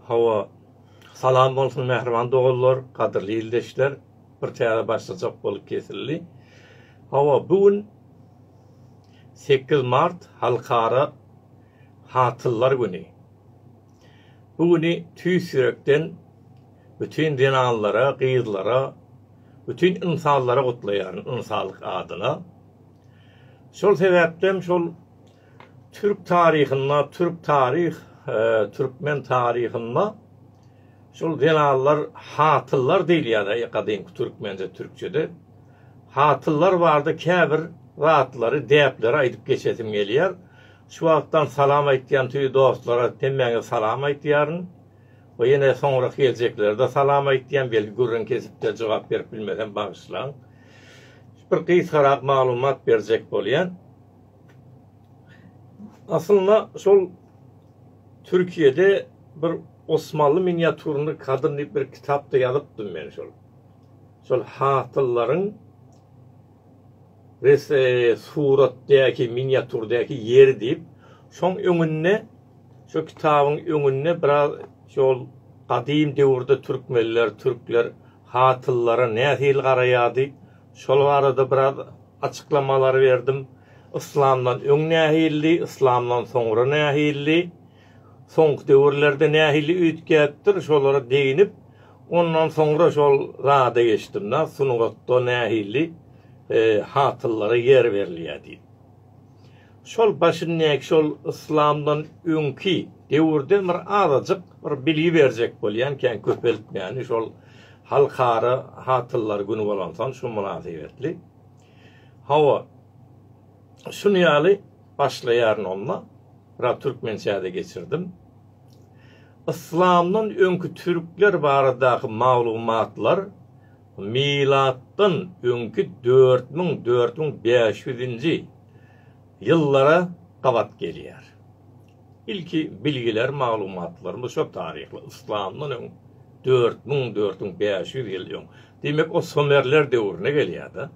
Hawa, salam bolsun mähriban doganlar, gadyrly ildeşler, bir täze başlajak bolup kesildi. Hawa, bu gün sekiz mart Halkara hatynlar güni. Bu güni tüýs ýürekden bütin zenanlara, gyzlara, bütin ynsanlara gutlaýaryn ynsanlyk adyna. Şol sebäpden şol Türk taryhynda, türk taryh, türkmen taryhynda şol zenanlar hatyllar diýilýär gadymky türkmence, türkçede. Hatyllar barada käbir zatlary, däpleri aýdyp geçesim gelýär. Şu wagtdan salam aýtýan tüýi dostlara hemmäňize salam aýtýaryn. We ýene soňrak geljeklere-de salam aýtýan, belki gürrüň kesipde jogap berip bilmesem bagyşlaň. Bir gysgarak maglumat berjek bolýan. Aslynda şol Türkiýede bir Osmanly miniaturny kadr diýip bir kitapda ýazypdym men şol. Şol hatyllaryň res suratdaky miniaturdaky ýeri diýip, şoň öňünde şu kitabyň öňünde biraz şol gadym döwürde türkmenler, türkler hatlylara nähili garaýardy? Şol barada biraz açyklamalary berdim. Yslamdan öň nähilidi, yslamdan soňra nähilidi, soňky döwürlerde nähili üýtgäpdir, şolara deginip, ondan soňra şol zada geçdim-de, sungatda nähili hatlylara ýer berilýär diýip. Şol başyndäki şol yslamdan öňki döwürden bir azajyk bir bilgi berjek bolýan kän köpeltmäni şol halkara hatynlar güni bolansoň şu mynasybetli. Hawa şunu ýaly başlaýaryn onda. Biraz türkmençäde geçirdim. Yslamdan öňki türkler baradaky maglumatlar Milatdan öňki dört müň, dört müň bäş ýüzünji ýyllara gabat gelýär. Ilki bilgiler, maglumatlarymyz şo taryhly, yslamdan öň dört müň, dört müň bäş ýüz ýyl öň. Diýmek, o sumerler döwrüne gelýär-de.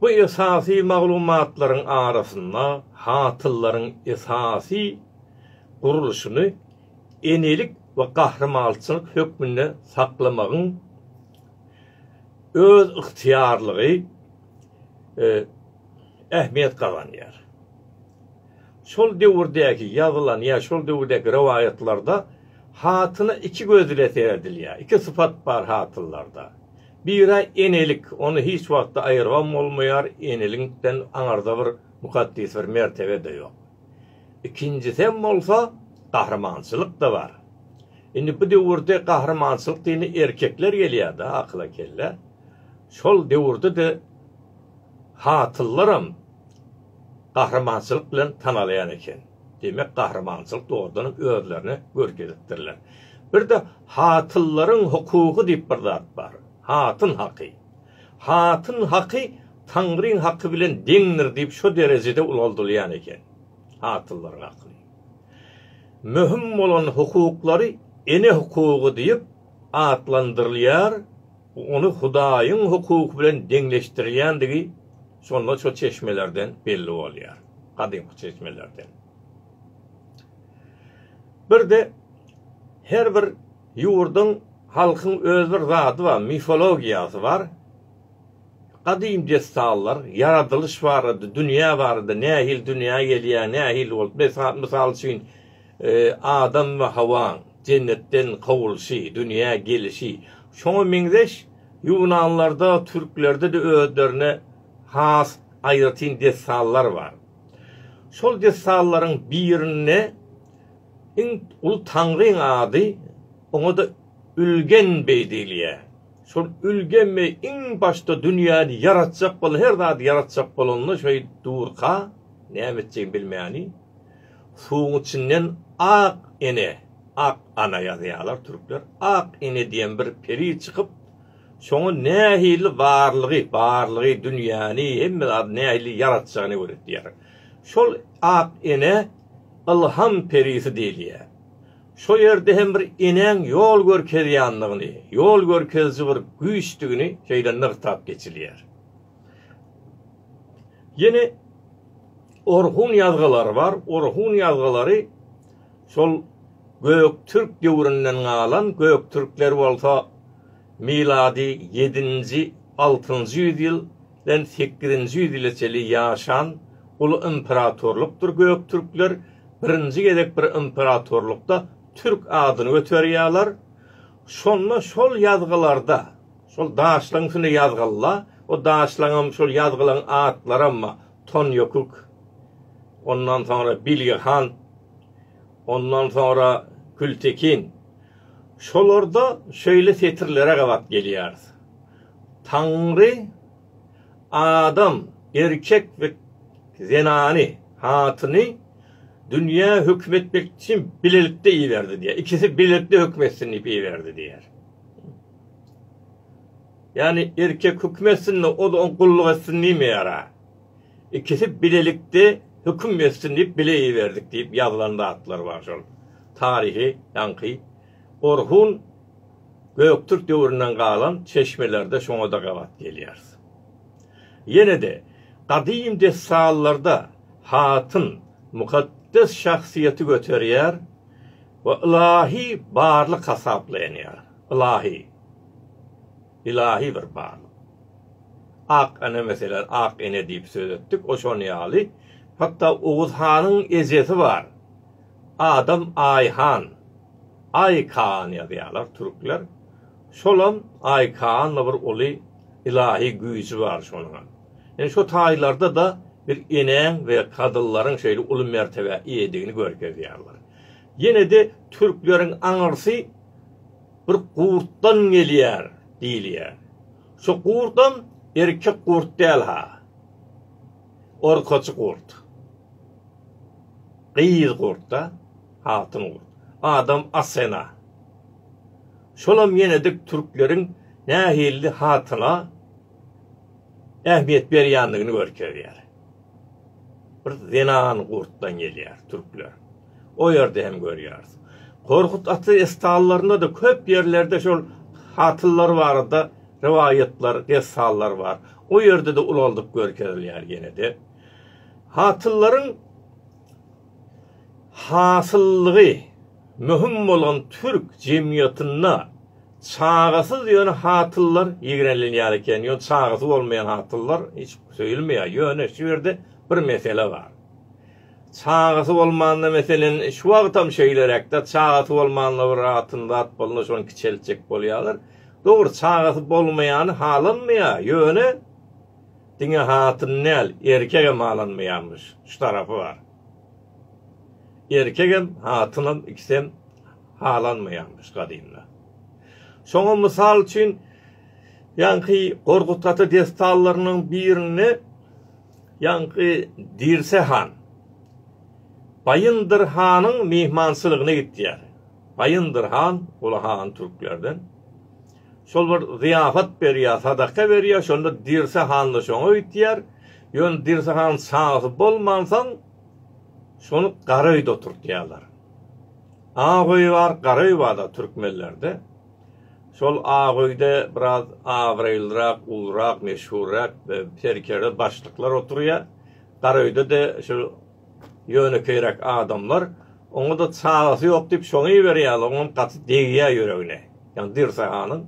Bu esasy maglumatlaryň arasynda hatyllaryň esasy gurluşyny, enelik we gahrymançylyk hökmünde saklamagyň özygtyýarlygy ähmiýet gazanýar. Şol döwürdäki ýazylan ýa şol döwürdäki rowaýatlarda hatyna iki göz ile seredilýär. Iki sypat bar hatynlarda. Biri enelik, ony hiç wagtda aýyrgam bolmaýar, eneliňkden aňarda bir mukaddes bir mertebe-de ýok. Ikinjisem bolsa gahrymançylykda bar. Indi bu döwürde gahrymançylyk diýeni erkekler gelýärda akyla kelle. Şol döwürdede hatyllaram gahrymançylyk bilen tanalýan eken. Demek gahrymançylyk dogrudanam özlerini görkezipdirler. Birde hatyllaryň hukugy diýip bir zat bar. Hatyn haky. Hatyn haky Taňryň haky bilen deňdir diýip şo derejede ulaldylýan eken. Hatynlaryň hakyny. Möhüm bolan hukuklary ene hukugy diýip atlandyrylýar, ony Hudaýyň hukugy bilen deňleşdirilýändigi şonda şo çeşmelerden belli bolýar, gadymky çeşmelerden. Bir-de her bir Ýurduň, halkyň öz bir zady bar, mifologiýasy bar. Gadym dessanlar, ýaradylyş barada, dünýä barada, nähili dünýä gelýär, nähili bolup, mysal üçin, Adam we Hawaň jennetden kowulşy, dünýä gelişi. Şoňa meňzeş ýunanlarda, türklerde-de özlerine has aýratyn dessanlar bar. Şol dessanlaryň birinde Iň uly taňryň ady, oňa-da Ülgen beý diýilýär. Şol Ülgen beý iň başda dünýäni ýaratjak boldy, her zady ýaratjak bolanda şeýdip durka, näme etjegini bilmäni, suwuň içinden Ak ene, Ak ana ýazýarlar türkler, Ak ene diýen bir peri çykyp, şoňa nähili barlygy, barlygy, dünýäni, hemme zady nähili ýaratjagyny öwretýär. Şol Ak ene. ylham perisi diýilýär. Şo ýerde hem bir enäň ýol görkezýändigini, ýol görkeziji bir güýçdigini şeýle nygtap geçilýär. Ýene Orhun ýazgylary bar. Orhun ýazgylary şol göktürk döwründen galan, göktürkler bolsa milady ýedinji, altynjy ýüz ýyl, den sekizinji ýüz ýyla çenli ýaşan uly imperatorlykdyr Göktürkler birinji gezek bir imperatorlykda türk adyny göterýärler şonda şol ýazgylarda şol daşlaň üstünde ýazgylla o daşlaňam şol ýazgylaň atlaram Tonýokuk ondan soňra Bilge han ondan soňra Kültekin Şolarda şeýle setirlere gabat gelýäris, Taňry adam, erkek we zenany, hatyny, dünýä höküm etmek üçin bilelikde iberdi diýýär. Ikisi bilelikde höküm etsin diýip iberdi diýýär. Ýagny erkek höküm etsin-de, o-da oňa gulluk etsin diýmeýär-ä. ikisi bilelikde höküm etsin diýip bile iberdik diýip ýazylan zatlar bar şol taryhy ýaňky Orhun Göktürk döwründen galan çeşmelerde şoňada gabat gelýäris. Ýenede gadym dessallarda hatyn mukaddes şahsyýeti göterýär we ylahy barlyk hasaplaýanýar. Ylahy. Ylahy bir barlyk. Ak ene meselem ak ene diýip söz etdik, o şon ýaly. Hatda Oguz hanyň ejesi bar. Adam Aýhan, Aý Kaan ýazýarlar türkler. Şolam Aý Kaanla bir uly ylahy güýji bar şonuňam. Indi şo taýlarda-da bir enäň we kadyllaryň şeýle uly mertebä eýedigini görkezýärler. Ýene-de türkleriň aňyrsy bir gurtdan gelýär diýilýär. Şu gurtam erkek gurt däl-ha. Orkaçy gurt. Gyz gurt-da, hatyn gurt. Adam Asena. Şolam ýenedik türkleriň nähilli hatyna ähmiýet berýändigini görkezýär. Bir zenan gurtdan gelýär türkler. O ýerde hem görýäris. Korkut ata estallaryna-da köp ýerlerde şol hatynlar barada rowaýatlar, dessanlar bar. O ýerde-de ulaldyp görkezilýär ýene-de. Hatynlaryň hasyllygy möhüm bolan türk jemgyýetinde çagasyz ýöne hatynlar ýigrenilýär eken, ýöne çagasy bolmaýan hatynlar hiç söýülmeýär. Ýöne şu ýerde bir mesele bar. Çagasy bolmanda meselen şu wagtam şeýleräkdä çagasy bolmanda bir atyn zat bolanda şony kiçeltjek bolýalar. Dogry çagasy bolmaýany halanmaýa ýöne diňe hatyn däl erkegem halanmaýamyş şu tarapy bar. Erkegem hatynam ikisem halanmaýamyş gadymda. Şoňa mysal üçin ýaňky Gorgut ata dessanlarynyň birinde Ýaňky Dirse han Baýyndyr hanyň myhmançylygyna gitýär. Baýyndyr han, ol han türklerden. Şol bir zyýafat berýär, sadaka berýär, şonda Dirse han-da şoňa gitýär. Ýöne Dirse hanyň çagasy bolmansoň, şony gara öýde oturtýarlar. Ak öýi bar, gara öýi bar-da türkmenlerde. Şol ak öýde biraz abraýlyrak, ulurak, meşhurrak serkerde başlyklar oturýar. Gara öýde-de şu ýönekeýräk adamlar. Oňa-da çagasy ýok diýip şony iberýärler, oňam gaty degýär ýüregine. Ýagny Dirse hanyň.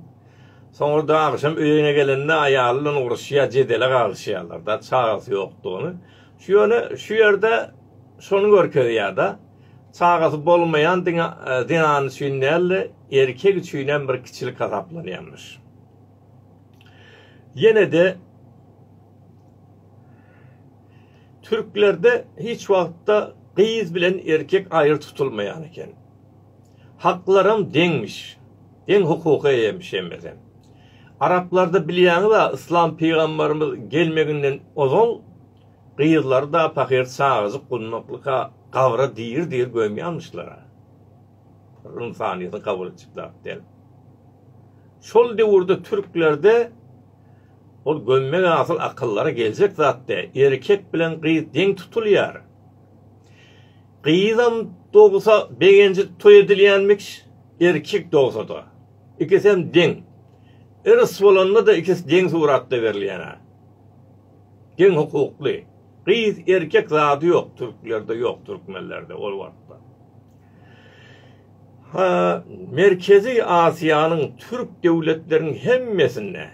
Soňra-da agşam öýüne gelende aýaly bilen uruşýar, jedele galyşýarlar-da, çagasy ýokdugyny. Şu ýöne şu ýerde şony görkezýär-de. Çagasy bolmaýan diňe zenan üçin däl-de, erkek üçin hem bir kiçilik hasaplanýarmyş. Ýene-de türklerde hiç wagtda gyz bilen erkek aýry tutulmaýan eken. Haklaram deňmiş. Deň hukuka eýemiş hemmesi. Araplarda bilýäňiz-ä, yslam pygamberimiz gelmeginden ozal Gyzlary-da pahyr çagajyk gundaklyka gabra diri-diri gömýärmişler-ä. Bir ynsanyýetiň kabul etjek zat däl. Şol döwürde türklerde ol gömmek asyl akyllara geljek zat däl. Erkek bilen gyz deň tutulýar. Gyzam dogsa begenji toý edilýänmik, erkek dogsa-da. Ikisem deň. Yrs bolanda-da ikisi deň suratda berilýän-ä. Deň hukukly. Gyz erkek zady ýok türklerde ýok türkmenlerde ol wagtda. Ha Merkezi Aziýanyň türk döwletleriniň hemmesinde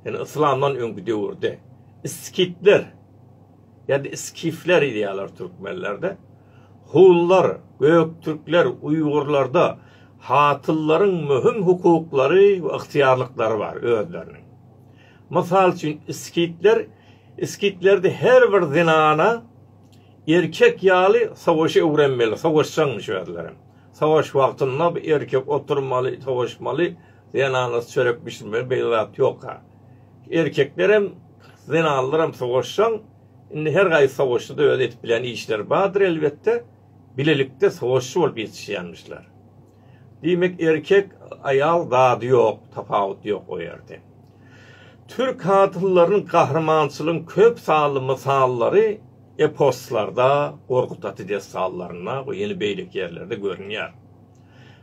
ýani yslamdan öňki döwürde iskitler ýa-da iskifler diýýärler türkmenlerde hunlar, göktürkler, uýgurlarda hatyllaryň möhüm hukuklary we ygtyýarlyklary bar özleriniň. Mysal üçin, skitler, Skitlerde her bir zenana erkek ýaly sowaşy öwrenmeli, sowaşjaňmyş özlerem. Sowaş wagtynda bu erkek oturmaly, sowaşmaly, zenanasy çörek bişirmeli, beýle zat ýok-a. Erkeklerem, zenanlaram sowaşjaň, indi her gaýsy sowaşyda öz edip bilen işleri bardyr elbetde, bilelikde sowaşjy bolup ýetişýänmişler. Diýmek erkek aýal zady ýok tapawut ýok o ýerde. Türk hatynlarynyň gahrymançylygyň köp sanly mysallary eposlarda, Gorkut ata dessanlarynda we ýene beýleki ýerlerde görünýär.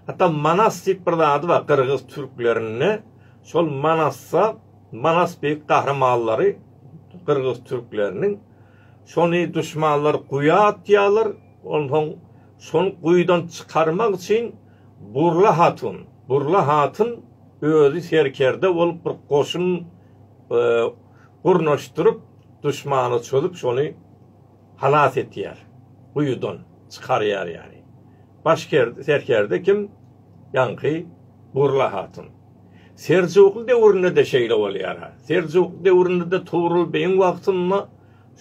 Hatda Manas diýip bir zady bar gyrgyz türklerinde şol Manasda Manas beýik gahrymanlary gyrgyz türkleriniň şony duşmanlar guýa atýarlar onsoň Şony guýudan çykarmak üçin Burla hatun, Burla hatyn özi serkerde bolup bir goşun gurnaşdyryp, duşmana çozüp şony halas etýär, guýudan çykarýar ýaly. Baş serkerde kim? Ýaňky Burla hatyn. Seljukly döwründe-de şeýle bolýar-a. Seljukly döwründe-de Tugrul beýiň wagtynda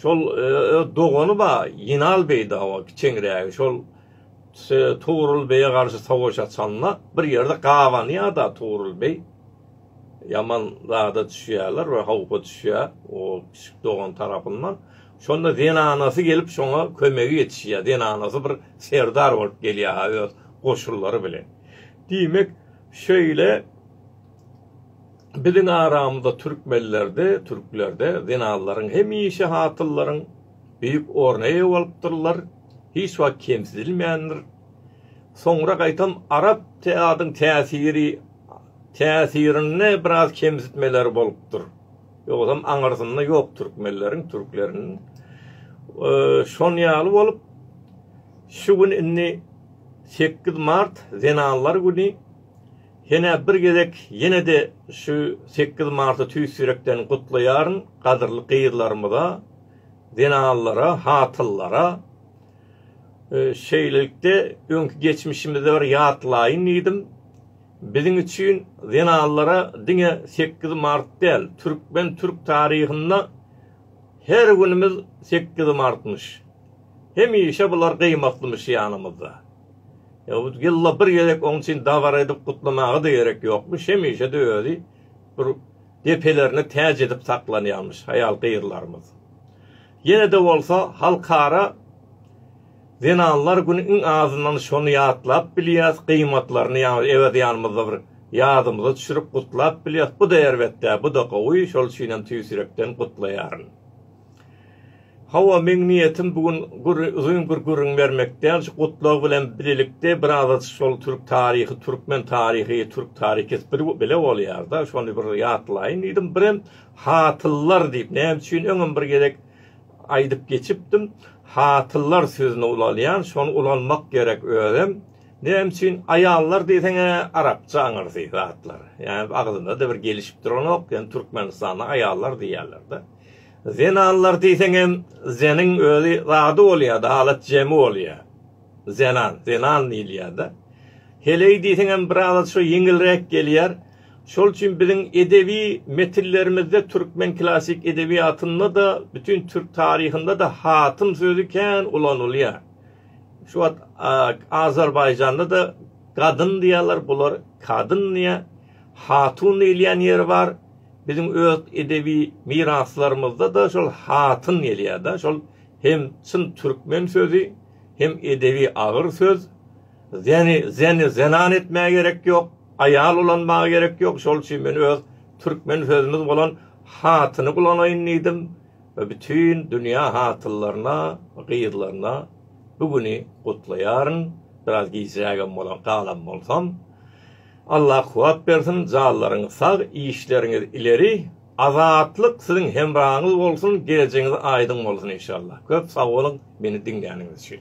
Şol öz dogany bar, Ýenal beý dawa, kiçeňrägi. Şol Tugrul beýe garşy sowaş açanda, bir ýerde gabanýar-da Tugrul beý. Ýaman zada düşýärler, bir howpa düşýär o kiçi dogany tarapyndan. Şonda zenanasy gelip şoňa kömege ýetişýär. Zenanasy bir serdar bolup gelýär-ha öz goşunlary bilen. Diýmek, şeýle. Biziň aramyzda türkmenlerde, türklerde zenanlaryň hemişe hatyllaryň beýik orna eýe bolupdyrlar, hiç wagt kemsidilmändir. Soňra gaýtam arap adyň täsiri täsirinde biraz kemsitmeler bolupdyr. Ýogsam aňyrsynda ýok türkmenleriň, türkleriň. Şon ýaly bolup, şu gün indi sekiz mart zenanlar güni. Senä bir gezek ýene-de şu sekiz marty tüýs ýürekden gutlaýaryn gadyrly gyzlarymyza, zenanlara, hatynlara. Şeýlelikde öňki geçmişimizi bir ýatlaýyn diýdim. Biziň üçin zenanlara diňe sekiz mart däl, türkmen türk taryhynda her günümiz sekiz martmyş. Hemişe bular gymatlymyş ýanymyzda. Ýylla bir gezek oň üçin dabara edip gutlamaga-da gerek ýokmuş, hemişe-de özi bir depelerine täç edip saklanýarmyş aýal-gyzlarymyz. Ýene-de bolsa Halkara zenanlar güni iň azyndan şony ýatlap bilýäs, gyýmatlaryny ýaňy Ewez ýanymyzda bir ýadymyza düşürip gutlap bilýäs. Bu-da erbet däl, bu-da gowy, şol üçinem tüýs ýürekden gutlaýaryn. Hawa, meň niýetim bu gün uzyn bir gürrüň bermek däl, şu Gutlag bilen birlikde biraz şol türk taryhy, türkmen taryhy, türk taryhy ikisi bir bile bolýar-da, şony bir ýatlaýyn diýdim. Birem hatynlar diýip, näme üçin öňem bir gezek aýdyp geçipdim, hatynlar sözüni ulalýan, şony ulanmak gerek özem. Näme üçin aýallar diýseň-ä arapça aňyrsy zatlar. Ýa agzyma-da bir gelişip duranok, ýöne Türkmenistanda aýallar diýýärler-de. Zenanlar diýseňem zeniň özi zady bolýada alat jemi bolýa. Zenan, zenan diýilýada. Heleý diýseňem biraz şo ýeňilräk gelýär. Şol üçin biziň edebi metinlerimizde türkmen klassyk edebiýatynda-da, bütin türk taryhynda-da hatym sözi kän ulanylýar. Şu wagt Azerbaýjanda-da gadyn diýýärler, bular kadyn diýýär. Hatun diýilýän ýeri bar. Biziň öz edebi miraslarymyzda-da şol hatyn gelýär-de. Şol hem çyn türkmen sözi, hem edebi agyr söz. Zeni, zeni zenan etmäge gerek ýok, aýal ulanmaga gerek ýok. Şol üçin men öz türkmen sözümiz bolan hatyny ulanaýyn diýdim we bütin dünýä hatynlaryna, gyzlaryna bu güni gutlaýaryn. Biraz gijrägem bolan galan bolsam. Allah kuwat bersin janlaryňyz sag işleriňiz ileri Azatlyk siziň hemraňyz bolsun gelejegiňiz aýdyň bolsun inşallah köp sagboluň meni diňläniňiz üçin.